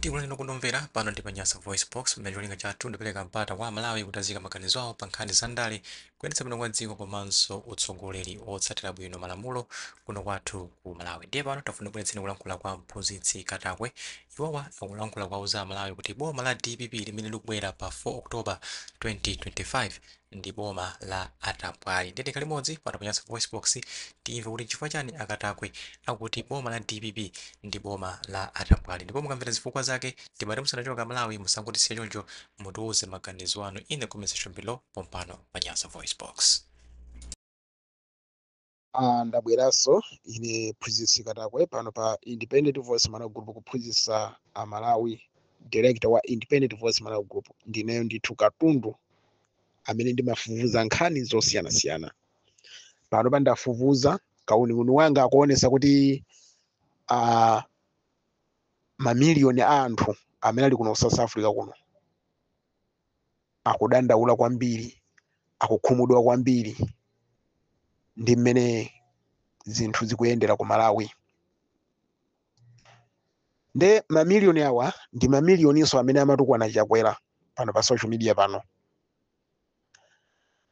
Tikulandilani okondedwa omvera, pano ndi pa Nyasa VoiceBox, pamene cholinga chathu ndikupereka mpata kwa Amalawi kuti aziyika maganizo awo pa nkhani za ndale, kuyendetsa bwino kwa dziko komanso utsogoleri otsatira bwino malamulo kuno kwathu ku Malawi. Ndiye pano tafuna ndikubweretseni kulankhula kwa Mphunzitsi Katakwe. Iwowa akulankhula kuwauza Amalawi kuti boma la dpp limene likubwera pa 4 October 2025, ndi boma la atambwali ndiye tikhale limodzi pano pa Nyasa Voice Box timve kuti nchifukwa chani akatakwe akuti boma la dpp ndi boma la atambwali ndipo mukamvera zifukwa zake timati musanachoke Amalawi musangotisiya choncho mutiuze maganizo anu in the comment section below pompano pa Nyasa Voice Box Ah, ndabweranso ine mphunzitsi katakwe pano pa independent voice malawi group kuphunzitsa amalawi director wa independent voice malawi group ndineyo ndithu katundu amene ndimafufuza nkhani zosiyanasiyana panopa ndafufuza kauniuni wanga akuonesa kuti ah, mamiliyoni a anthu amene ali kuno south africa kuno akudandaula kwambiri akukhumudwa kwambiri ndi mmene zinthu zikuyendera ku malawi nde mamiliyoni awa ndi mamiliyoninso amene amatukwana chakwera pano pa social media pano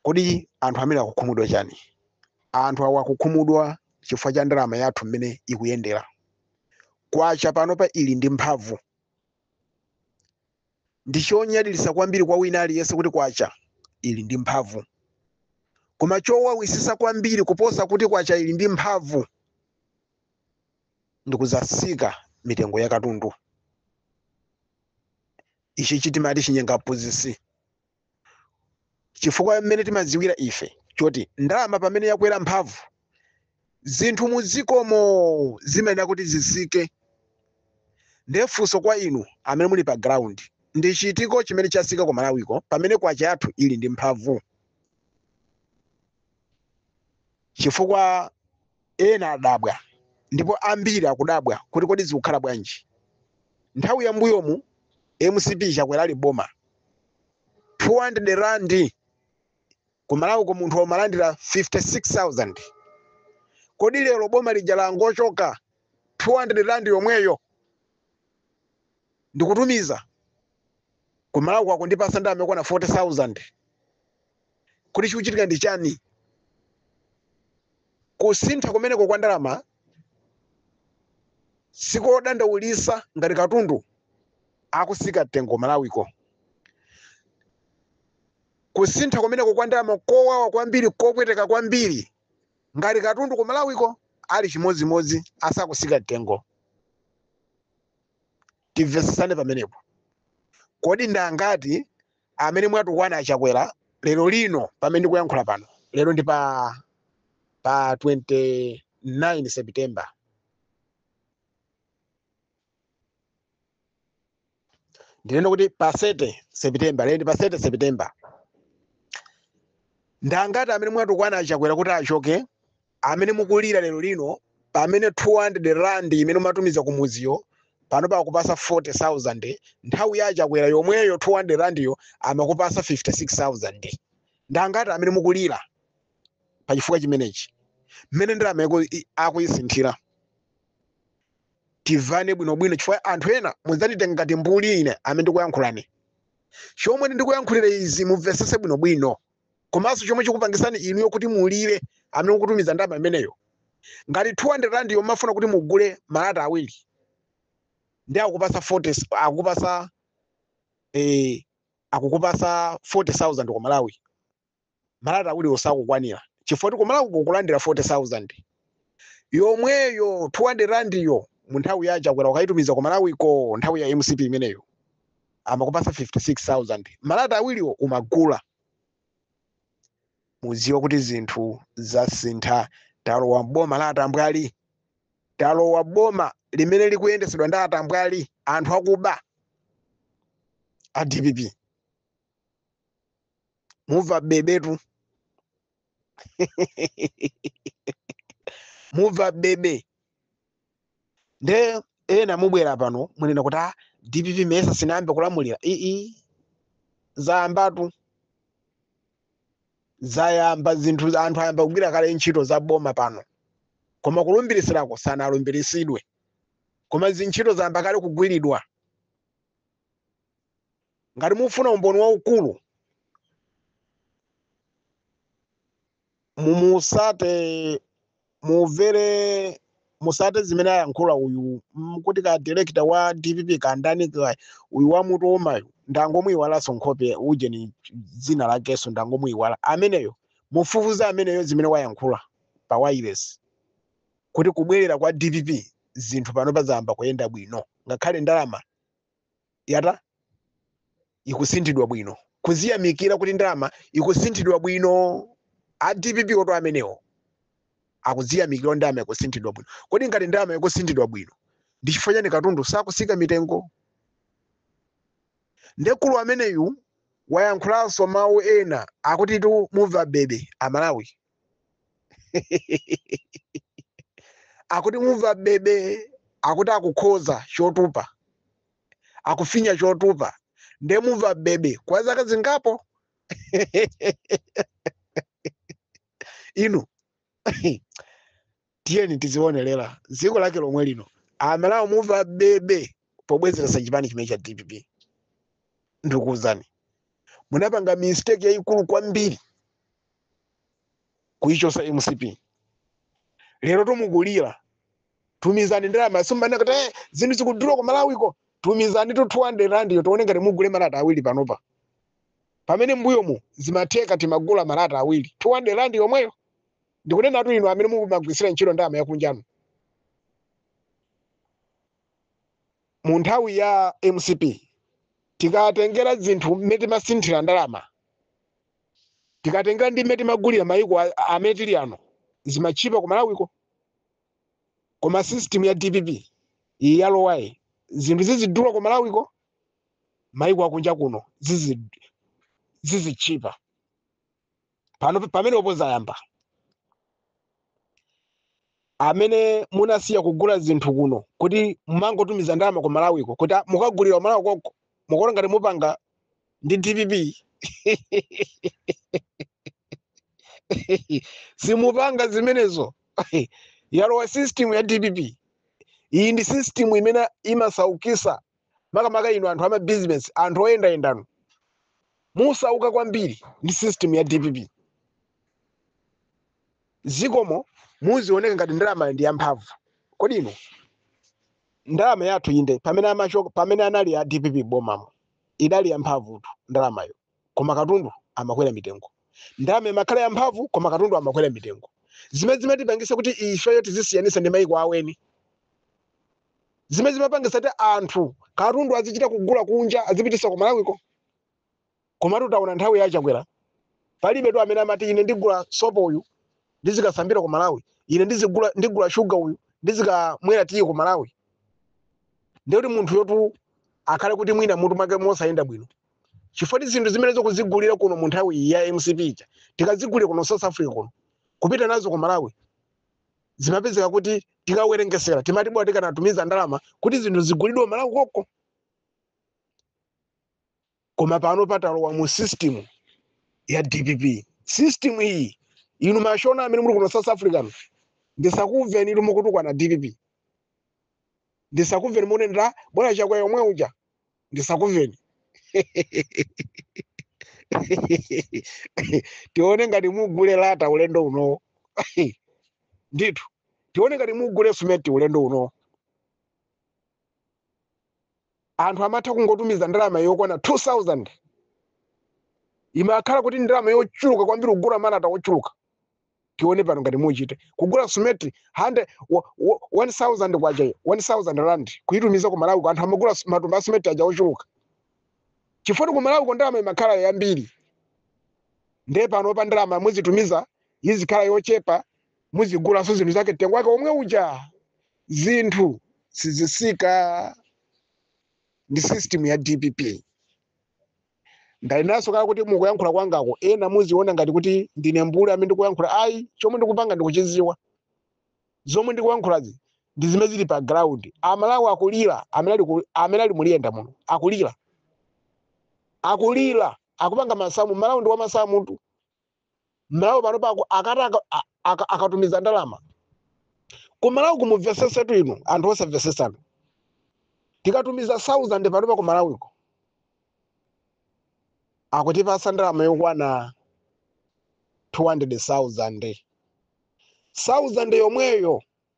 kodi anthu amene akukhumudwa chani anthu awa akukhumudwa chifukwa cha ndalama yathu mmene ikuyendera kwacha panopa ili ndi mphamvu Ndi chonyadilisa kwambiri kwa wina aliyense kuti kwacha ili ndi mphamvu. Koma chowawisisa kwambiri kuposa kuti kwacha ili ndi mphamvu ndi kusasika mitengo ya katundu. Ichichi timati chinyenga aphunzitsi. chifukwa mmene timadziwira ife choti ndalama pamene yakwera mphamvu zinthu muzikomo zimayenera kuti zisike ndiye funso kwa inu amene muli pa ground ndi chitiko chimene chasika ku malawiko pamene kwacha yathu ili ndi mphamvu chifukwa Ena adabwa ndipo ambiri akudabwa kuti kodi zikukhala bwanji? Nthawi ya mbuyomu mcp Chakwera ali m'boma 200 rand ku Malawiko munthu umalandira 56,000 kodi lero boma lija langochoka 200 rand yomweyo ndikutumiza ku Malawiko akundipasa ndalama yokwana 40,000? kodi chikuchitika ndi chani kusintha kumeneko kwa ndalama sikodandaulisa ngati katundu akusika mtengo ku malawiko kusintha kumeneko kwa ndalama kowawa kwambiri kopweteka kwambiri ngati katundu ku malawiko ali chimodzimodzi asakusika mtengo timvesesane pamenepo kodi ndangati amene mwatukwana achakwera lero lino pamene ndikuyankhula pano lero ndi pa pa 29 september ndinene kuti pa 30 september lero ndi pa 30 september ndangati amene mwatukwana achakwera kuti achoke amene mukulira lero lino pamene 200 rand imene umatumiza kumuziyo pano pakupasa 40000 nthawi ya chakwera yomweyo 200 randiyo amakupasa 56000 ndangati amene mukulira pa chifukwa chimenechi mmene ndalama yako i- akuyisinthira tivane bwinobwino chifukwa anthu ena mudzanditenga ngati mbuli ine amene ndikuyankhulani chomwe ndikuyankhulira izi mumvesese bwinobwino komanso chomwe chikupangisani inuyo kuti mulire amene mukutumiza ndalama imeneyo ngati 200 rand yo mafuna kuti mugule malata awiri ndi akupasa 40 s- akupasa eh, akukupasa 40000 ku malawi malata awiri osakukwanira chifukwa kuti kumalawi kukulandira 40000 yomweyo 200 rand yo mu nthawi ya chakwera ukaitumiza ku malawi ko nthawi ya mcp imeneyo amakupasa 56000 malata awiriwo umagula muziwa kuti zinthu zasintha talowa mboma la atambwali talowa boma limene likuyendesedwa ndi atambwali anthu akuba a dpp muva bebetu muva bebe nde ena mubwera pano munena kuti ah, dpp mesa sinayambe kulamulira ii zayambatu zayamba zinthu anthu ayamba kugwira kale ntchito za boma pano koma kulumbirisirako sanalumbirisidwe koma zintchito zayamba kale kugwiridwa ngati mufuna umboni waukulu musate muvere musate zimene ayankhula uyu mm, kuti ka director wa dpp kandani ka- uyu wa mutu womayo ndangomuyiwalanso nkhope ujeni dzina lakeso ndangomuyiwala ameneyo mufufuza ameneyo zimene wayankhula pa wailesi kuti kubwerera kwa dpp zinthu pano pazayamba kuyenda bwino ngakhale ndalama yata ikusinthidwa bwino kuziyamikira kuti ndalama ikusinthidwa bwino a dpp oto amenewo akuziyamikira ndalama ikusinthidwa bwino kodi ngati ndalama ikusinthidwa bwino ndi chifukwa chani katundu sakusika mitengo nde mkulu ameneyu wayankhulanso mawu ena akutitu mumva bebe amalawi akuti mumva bebe akuti akukhoza chotupa akufinya chotupa nde mumva bebe kwa zaka zingapo inu tiyeni tidzionerera dziko lake lomwe lino amalawi mumva bebe pobwezeretsa chipani chimene cha dpp ndikuwuzani munapanga mistake yayikulu kwambiri kuyichosa mcp lero tu mukulira tumizani ndalama sumbwana kuti "Eh, zinthu zikudula ku malawiko tumizani to 200 rand yo tione ngati mugule malata awiri panopa pamene mbuyomu zimatheka timagula malata awiri 200 rand yomweyo ndikunenatu inu amene mukumagwiritsira ntchito ndalama yakunja ino mu nthawi ya mcp tikatengera zinthu mmene timasinthira ndalama tikatengera ndi mmene timagulira mayiko a- amene tili ano zimatchipa ku malawiko koma system ya dpp iyi yalowayi zinthu zizidula ku malawiko mayiko akunja kuno zizi- zizitchipa pano pamenepo zayamba amene munasiya kugula zinthu kuno kuti mumangotumiza ndalama ku malawiko kuti "Ah, mukagulira ku malawi koko mukuona ngati mupanga ndi dpp simupanga zimenezo yalowa system ya dpp iyi ndi system imene imasaukisa makamaka inu anthu amabizinesi anthu oyendayendanu musauka kwambiri ndi system ya dpp ziko mu zizioneka ngati ndalama ndi yamphamvu kodi inu ndalama yathu inde pamene amachoka pamene anali a dpp bomamo idali yamphamvutu ndalamayo koma katundu amakwera mitengo ndalama imakhala yamphamvu koma katundu amakwera mitengo zimene zimatipangisa kuti ifeyo tizisiyanisa ndi maiko aweni zimene zimapangisa kuti anthu katundu azichita kugula kunja azipitisa ku malawiko komatu taona nthawi ya chakwera palibe tu amene amati ine ndigula sopo uyu ndizikasambira ku malawi ine ndizigula ndigula shuga uyu ndizikamwera tiyi ku malawi ndikuti munthuyotu akhale kuti mwina mutu mwake musakuyenda bwino chifukwa zinthu zimene timazigulira kuno mu nthawi ya mcp ija tikazigulira kuno south africa kuno kupita nazo ku malawi zimapezeka kuti tikawerengesera timati bola tikanatumiza ndalama kuti zinthu zigulidwe malawi koko koma pano patalowa mu system ya dpp system iyi inu mashona amene muli kuno south africa mu, ndisakumveni inu mukutukwana dpp ndisakumveni mukunenera bwana chakwera yomwe uja ndisakumveni tione ngati mugule lata ulendo unowo ndithu tione ngati mugule simenti ulendo unowo anthu amatha kungotumiza ndalama yokwana 2000 imakhala kuti ndalama yochuluka kwambiri kugula malata ochuluka tione pano ngati muchite kugula simenti 1000 wa- wa- 1000 kwacha 1000 rand kuitumiza ku malawi ko anthu amagula su- matumba a simenti aja ochuluka chifukwa choti ku malawi ko ndalama imakhala yambiri ndiye pano pa ndalama muzitumiza izikhala yochepa muzigulanso zinthu zake mtengo wake omwe uja zinthu sizisika ndi system ya dpp Ndanenaso kale kuti mukuyankhula kwangako ena amaziona ngati kuti ndine mbuli amene ndikuyankhula ayi chomwe ndikupanga ndikuchiziwa zomwe ndikuyankhulazi ndi zimene zili pa ground amalawi akulira amene ali ku- amene ali muulendo muno akulira akulira akupanga masamu malawi ndi wamasamu tu mmalawi pano pa akati aka- a- aka- akatumiza ndalama kumalawiko mumvesesetu inu anthu osamvesesanu tikatumiza 1000 pano pa kumalawiko akutipasa ndalama yokwana 200000 1000 yomweyo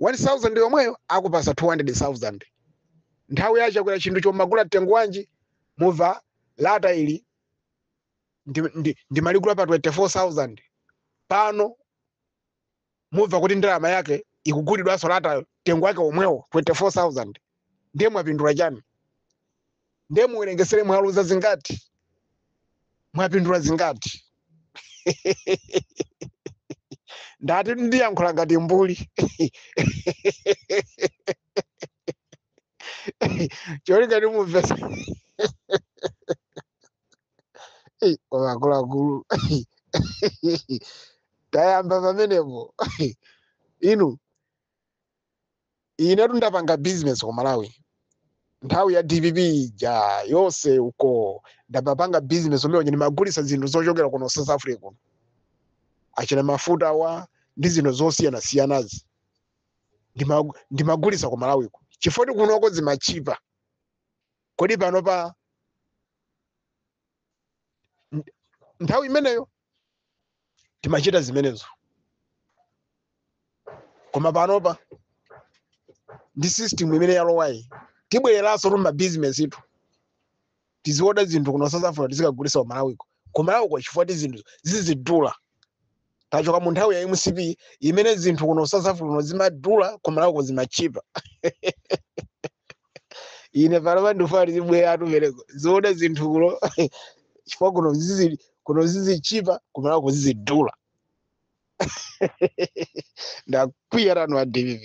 1000 yomweyo akupasa 200000 nthawi ya chakwera chinthu chomagulwa mtengo wanji muva lata ili ndi, ndi, ndimaligula pa 24000 pano muva kuti ndalama yake ikugulidwanso latayo mtengo wake omwewo 24000 ndiye mwapindula chani ndiye muwerengesere mwaluza zingati mwapindula zingati ndati ndiyankhula ngati mbuli cholinga choti mumve akuluakulu tayamba pamenepo inu inetu ndapanga business ku malawi nthawi ya dpp ija yonse uko ndamapanga business umene uja ndimagulitsa zinthu zochokera kuno south africa kuno achina mafuta awa ndi zinthu zosiyanasiyanazi ndima- ndimagulitsa ku malawiko chifoti kunoko zimatchipa kodi panopa nthawi imeneyo timachita zimenezo koma panopa ndi system imene yalowayi tibwereranso mu mabizinesi itu tiziwoda zinthu kuno south africa tizikagulisa ku malawiko kumalawiko chifukwa ti zinthu zizidula tachoka mu nthawi ya mcp imene zinthu kuno south africa kuno zimadula kumalawiko zimatchipa ine panopa ndifuna tizibwera atumereko tiziwoda zinthu kuno chifukwa kuno zizi kuno zizichipa ku malawi kuzizidula ndakwiya wanu wa dpp